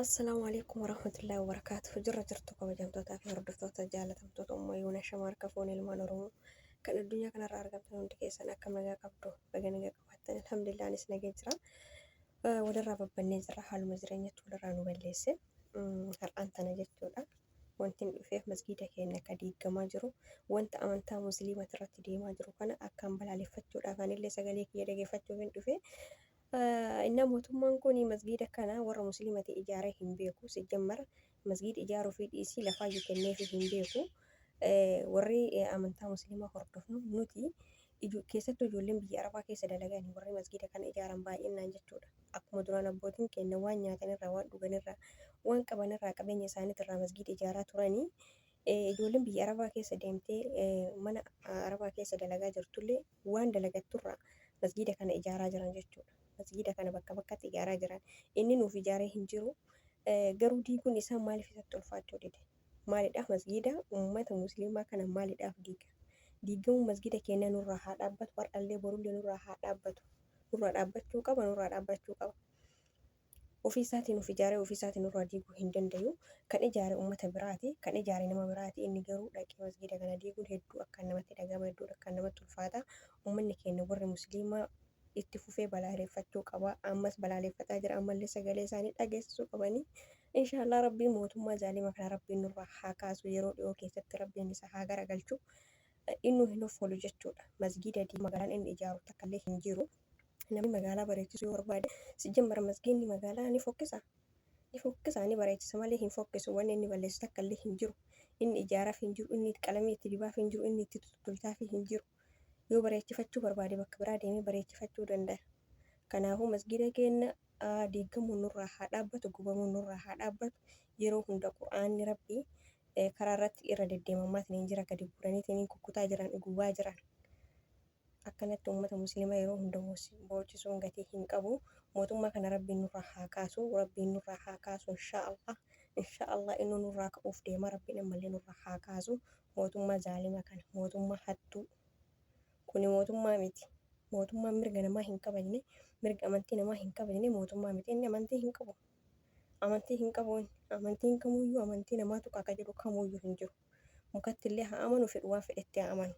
Assalaamu alaikum warahmatullahi wabarakaatuh jirra jirtu kabajamtootaa fi hordoftoota jaalatamtoota umma yuuna shama harka foon ilmaan oromoo kan addunyaa kanarra argamtan hundi keessan akka nagaa qabdu baga nagaa qabaattan alhamdulillah anis nagaa jira Eh, walirraa babbannee jirra haaluma jireenyatti walirraa nu balleesse Mm, har'aan tana jechuudha wanti hin dhufeef masgiida keenya akka diigamaa jiru wanta amantaa musliimati irratti deemaa jiru kana akkaan balaaleffachuudhaaf anillee sagalee kiyya dhageeffachuuf hin dhufe Innaa mootummaan kun masgiida kana warra musliimati ijaaree hin beeku. Sijjammar masgiida ijaaruufii dhiisii lafaayyu kenneefii hin beeku. Warri amantaa musliimaa hordofnu nuti keessattuu ijoolleen biyya arabaa keessa dalagan warri masgiida kana ijaaran baay'innaan jechuudha. Akkuma duraan abbootiin keenya waan nyaatanirraa waan dhuganirraa waan qabanirraa qabeenya isaaniitirraa masgiida ijaaraa turanii ijoolleen biyya arabaa keessa deemtee mana arabaa keessa dalagaa jirtullee waan dalagatturraa masgiida kana ijaaraa jiran jechuudha. Masgiida kana bakka bakkatti ijaaraa jiran. Inni nuuf ijaaree hin jiru. Garuu diiguun isaa maaliif isatti ulfaachuu dide? Maalidhaaf masgiida uummata musliimaa kana maalidhaaf diiga? Diigamuun masgiida keenya nurraa haa dhaabbatu, har'allee borullee nurraa haa dhaabbatu. Nurraa dhaabbachuu qaba, nurraa dhaabbachuu qaba. Ofii isaatiin of ijaaree ofii isaatiin nurraa diiguu hin dandayu. Kan ijaare ummata biraati. Kan ijaare nama biraati. Inni garuu dhaqee masgiida kana diiguun hedduu akkaan namatti dhagahama, hedduu akkaan namatti ulfaata. Ummanni keenya warri musliimaa itti fufee balaaleeffachuu qaba. Ammas balaaleeffataa jira. Ammallee sagalee isaanii dhageessisuu qabani. Inshaallah Rabbiin mootummaa zaalima kana Rabbiin nurraa haa kaasu. Yeroo dhiyoo keessatti Rabbiin isa haa garagalchu. Innuu hin hoffolu jechuudha. Masgiida diigee magaalaan inni ijaaru takkallee hin jiru. Namni magaalaa bareechisuu yoo barbaade sijjammara masgiinni magaalaa ni fokkisa ni fokkisa ni bareechisa malee hin fokkisu wanni inni balleessu takka illee hin jiru inni ijaaraaf hin jiru inni qalamii itti dibaaf hin jiru inni itti tutulchaaf hin jiru yoo bareechifachuu barbaade bakka biraa deemee bareechifachuu danda'a kanaafuu masgiida keenna aa, diigamuun nurraa haa dhaabbatu gubamuun nurraa haa dhaabbatu yeroo hunda qur'aanni rabbii eh, karaa irratti irra deddeemammaatiniin jira gadi guuraniitiniin kukkutaa jiran gubaa jiran Akkanatti ummata muslima yeroo hunda boochisuun gatii hin qabu. Mootummaa kana Rabbiin nurraa haa kaasu. Rabbiin nurraa haa kaasu inshaa Allah. Inshaa Allah innuu nurraa ka'uuf deema. Rabbiin ammallee nurraa haa kaasu mootummaa zaalima kana. Mootummaa hattuu. Kuni mootummaa miti. Mootummaan mirga namaa hin kabajne, mirga amantii namaa hin kabajne mootummaa miti. Inni amantii hin qabu. Amantii hin qabu inni. Amantiin kamuyyuu amantii namaa tuqa ka jedhu kamuyyuu hin jiru. mukatti illee haa amanu fedhu waan fedhetti haa amanu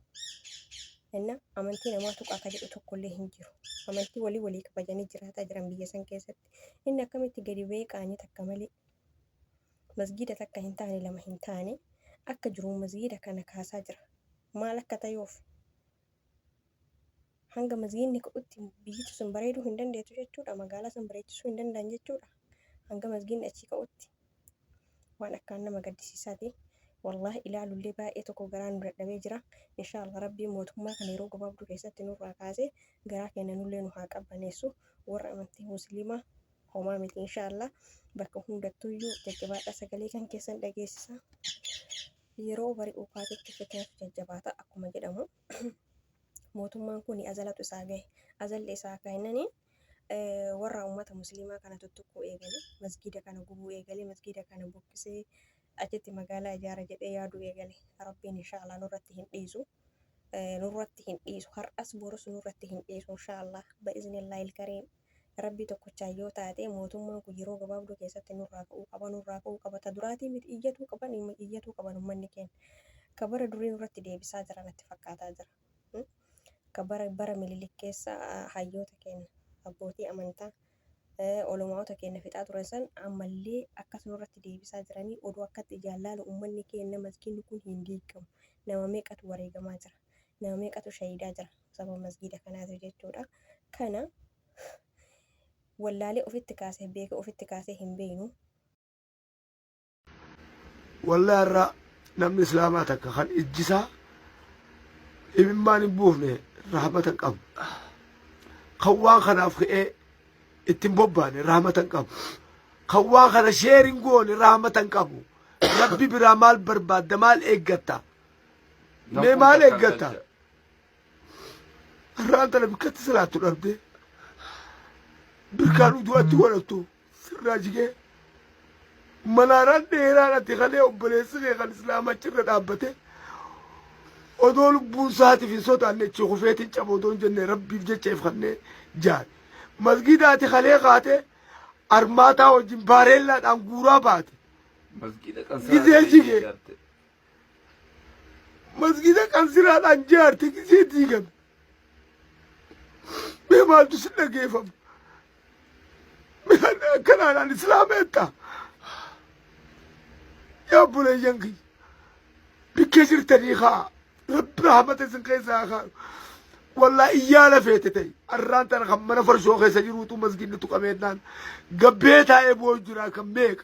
enna amantii namaa tuqaa ka jedhu tokko illee hin jiru amantii walii walii kabajanii jiraataa jiran biyya san keessatti inni akkamitti gadi ba'ee qaanii takka malee masgiida takka hin taane lama hin taane akka jiruun masgiida kana kaasaa jira maal akka ta'eef hanga masgiidni ka'utti biyyichi sun bareeduu hin dandeettu jechuudha magaalaa san bareechisuu hin danda'an jechuudha hanga masgiidni achii ka'utti waan akkaan nama gaddisiisaati wallaahi ilaalullee baay'ee tokko garaa nu dadhabee jira inshaallah rabbii mootummaa kana yeroo gabaabduu keessatti nurraa kaasee garaa keenya nullee nu haa qabbaneessu warra amantii musliimaa homaa miti inshaallah bakka hundattuuyyuu jajjabaadhaa sagalee kan keessan dhageessisa Yeroo bari'u kaatetti fitnatu jajjabaata akkuma jedhamu mootummaan kun azalatu isaa gahe. Azalli isaa akka hinnani warra uummata musliimaa kana tuttuquu eegale. Masgiida kana gubuu eegale. Masgiida kana buqqisee achitti magaalaa ijaara jedhee yaaduu eegale. Rabbiin inshaallah nurratti hin dhiisu. Nurratti hin dhiisu. Har'as borus nurratti hin dhiisu inshaallah. Ba'iznillahil kariim. Rabbii tokkochaan yoo taate mootummaan kun yeroo gabaabduu keessatti nurraa ka'uu qaba nurraa ka'uu qaba ta duraatii miti iyyatuu qaban iyyatuu qaban ummanni keenya ka bara durii nurratti deebisaa jira natti fakkaataa jira ka bara bara mililik keessa hayyoota keenya abbootii amantaa olomaa'ota keenya fixaa turan san ammallee akkas nurratti deebisaa jiranii oduu akkatti ijaan laalu ummanni keenya maskiinni kun hin diigamu nama meeqatu wareegamaa jira nama meeqatu shahiidaa jira sababa masgiida kanaatiif jechuudha. Kana wallaalee ofitti kaasee beeka ofitti kaasee hin beeknu. Wallaa irraa namni islaamaa takka kan ijjisaa imimmaan hin buufne rahmata hin qabu. Kan waan kanaaf ka'ee ittiin bobbaane rahmata hin qabu. Kan waan kana sheer hin goone rahmata hin qabu. Rabbi biraa maal barbaadda maal eeggatta? Mee maal eeggatta? Har'aan tana bikkatti salaattu dhabdee birkaan utuu achi godhattu sirraa jigee manaaraan dheeraan ati kalee obboleessi kee kan islaama achirra dhaabbate odoo lubbuun isaatiif hin sodaanne achi kufeetiin caba odoo hin jenne rabbiif jecha if kannee jaan masgiida ati kalee kaatee armaataa wajjin baareellaadhaan guuraa baate Masgiida kan Gizee jige. Masgiida qansiraadhaan jaarte gisee diigame. Mee maaltu si dhageeffama? Mee akkanaadhaan islaama jetta? Yaa buleeyyan kiyya. Bikkee jirtanii kaa. Rabbi rahmata isin keessaa kaa. Wallaa iyyaa lafeete ta'e. Arraan tana kan mana farshoo keessa jiruutu masgiidni tuqameennaan gabbee taa'ee boo'u jira kan meeqa.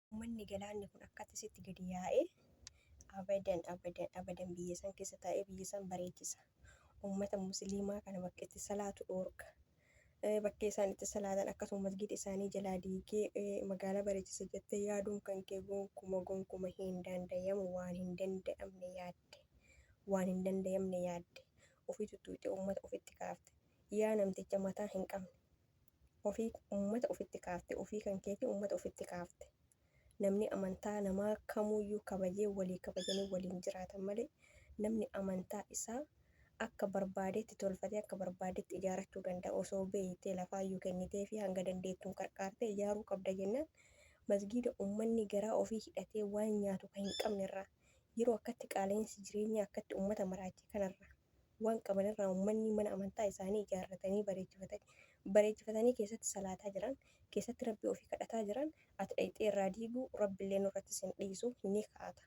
Ummanni galaanni kun akkatti sitti gadi yaa'e abadan abadan abadan biyya san keessa taa'ee biyya san bareechisa. Ummata musliimaa kana bakka itti salaatu dhoorka. Bakkee isaan itti salaatan akkasuma masgiida isaanii jalaa diigee magaalaa bareechisa jettee yaaduun kan kee gonkuma gonkuma hin dandayamu waan hin danda'amne yaadde. Waan hin dandayamne yaadde. Ofii tuttuuxee ummata ofitti kaafte. Yaa namticha mataa hin qabne. ofii ummata ofitti kaafte, ofii kan keetii ummata ofitti kaafte. Namni amantaa namaa kamuuyyuu kabajee walii kabajanii waliin jiraatan malee namni amantaa isaa akka barbaadetti tolfatee akka barbaadetti ijaarachuu danda'a osoo beeytee lafaayyuu kenniteefii hanga dandeettuun qarqaartee ijaaruu qabda jennaan masgiida ummanni garaa ofii hidhatee waan nyaatu ka hin qabnerraa yeroo akkatti qaala'insi jireenyaa akkatti ummata maraache kanarraa waan qaban irraa ummanni mana amantaa isaanii ijaarratanii bareechifatanii bareechifatanii keessatti salaataa jiran keessatti rabbi ofii kadhataa jiran ati dhayxee irraa diiguu rabbillee nurratti sin dhiisu ni kaata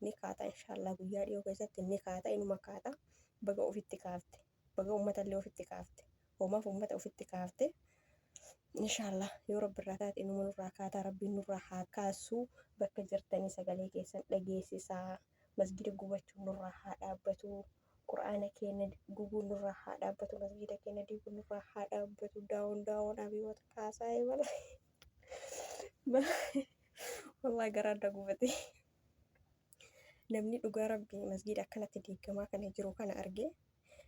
ni kaata inshaallaa guyyaa dhiyoo keessatti ni kaata inuma kaata baga ofitti kaafte baga ummatallee ofitti kaafte hoomaaf ummata ofitti kaafte inshaallaa yoo rabbi irraa taate inuma nurraa kaataa rabbiin nurraa haa kaasuu bakka jirtanii sagalee keessan dhageessisaa masgida gubachuun nurraa haa dhaabbatu qur'aana keenya gubuun nurraa haa dhaabbatu masgida keenya diiguun nurraa haa dhaabbatu daawon daawon abiyoota kaasaa eebala wallaa garaa adda gubate namni dhugaa rabbii masgida akkanatti diigamaa kana jiru kana argee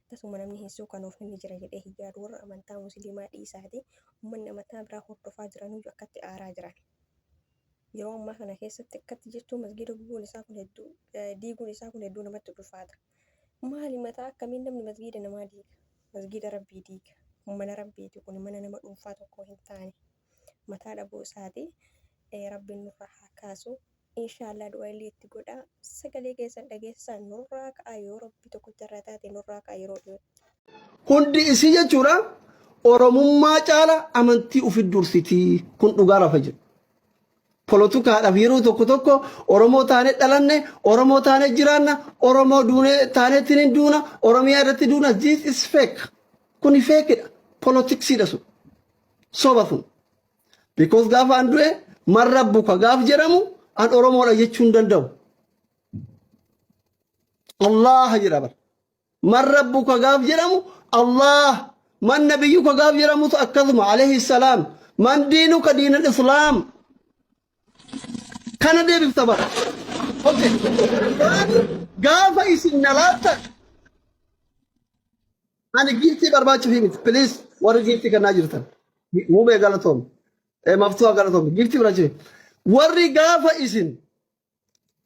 tasuma namni hin suukanuuf inni jira jedhee hin yaadu warra amantaa musliimaa dhiisaati ummanni amantaa biraa hordofaa jiranuyyu akkatti aaraa jiran Yeroo ammaa kana keessatti akkatti jettuu masgiida gubuun isaa kun hedduu diiguun isaa kun hedduu namatti ulfaata. Maali mataa akkamiin namni masgiida namaa diiga? Masgiida Rabbii diiga. Mana Rabbiiti kun mana nama dhuunfaa tokkoo hin taane. Mataa dhabuu isaati Rabbiin nurraa haa kaasu. Inshaallah du'a illee itti godhaa. Sagalee keessan dhageessisaan nurraa ka'a yoo Rabbi tokkicha irraa taate nurraa ka'a yeroo dhiyootti. Hundi isii jechuudha Oromummaa caala amantii ofi dursitii. Kun dhugaa lafa jiru. Polotukaadhaaf yeroo tokko tokko Oromoo taanee dhalanne, Oromoo taanee jiraanna, Oromoo duunee taaneetiin hin duuna, Oromiyaa irratti duuna. This is fake. Kuni feekidha. Polotiksiidha sun. Soba sun. Because gaafa an du'e marra buka gaaf jedhamu an Oromoodha jechuu hin danda'u. Allah jedha bara. Man rabbuka gaaf jedhamu Allaah, man nabiyyuka gaaf jedhamus akkasuma alayhi salaam, man diinuka diinal islaam. Kana deebifta bara. Okay. Ani Gaafa isin na laattan ani giiftii barbaachuuf miti. Piliis warri giiftii kennaa jirtan. Mubee galatoom. Maftuha galatoom. Giiftii barbaachuuf. Warri gaafa isin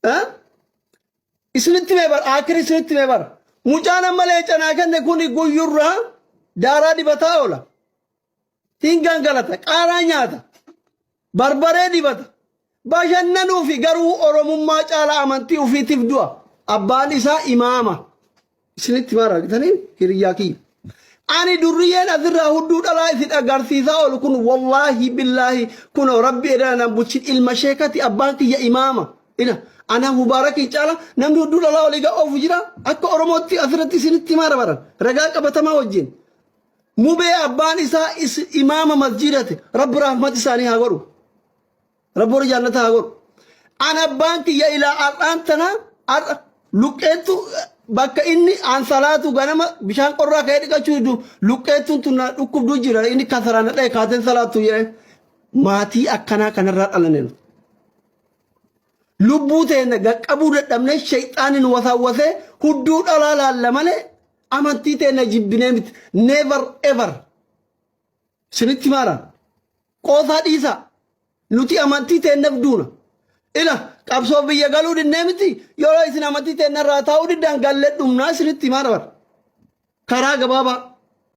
Eh? isinitti mee bara akiri isinitti mee bara mucaan amma leencanaa kenne kun guyyurraa daaraa dibataa oola hin gangalata qaaraa nyaata barbaree dibata bashannanuufi garuu oromummaa caalaa amantii ufiitiif du'a abbaan isaa imaama Isinitti maal argitaniin hiriyyaa kiyya. Ani durriyyeen asirraa hudduu dhalaa isin agarsiisaa oolu kun wallaahi billaahi kun rabbi edana nan buchin ilma sheekati abbaan kiyya imaama. Ila ana mubaarakiin caala namni hudduu dhalaa olii gaa oofu jira akka oromootti asirratti isinitti maara baran ragaa qabatamaa wajjin. Mubee abbaan isaa is- imaama masjiidati rabbi rahmat isaanii haa godhu. Rabbi warra jaallata haa godhu. An abbaan kiyya ilaa har'aan tana har'a luqqeettu bakka inni an salaatu ganama bishaan qorraa ka'ee dhiqachuu diddu luqqeettuun tun na dhukkubduu jira inni kasaraan na dha'e kaateen salaattu jedhee maatii akkanaa kanarraa dhalane nu. Lubbuu teenya gaqqabuu dadhabnee shayxaanni nu wasaawwasee hudduu dhalaa laalla malee amantii teenya jibbinee miti never ever. Sinitti maara. Qoosaa dhiisaa. Nuti amantii teennaf duuna. Ila qabsoof biyya galuu dinnee miti yeroo isin amantii teennarraa taa'uu diddan gallee dhumnaa sinitti maara bara. Karaa gabaabaa.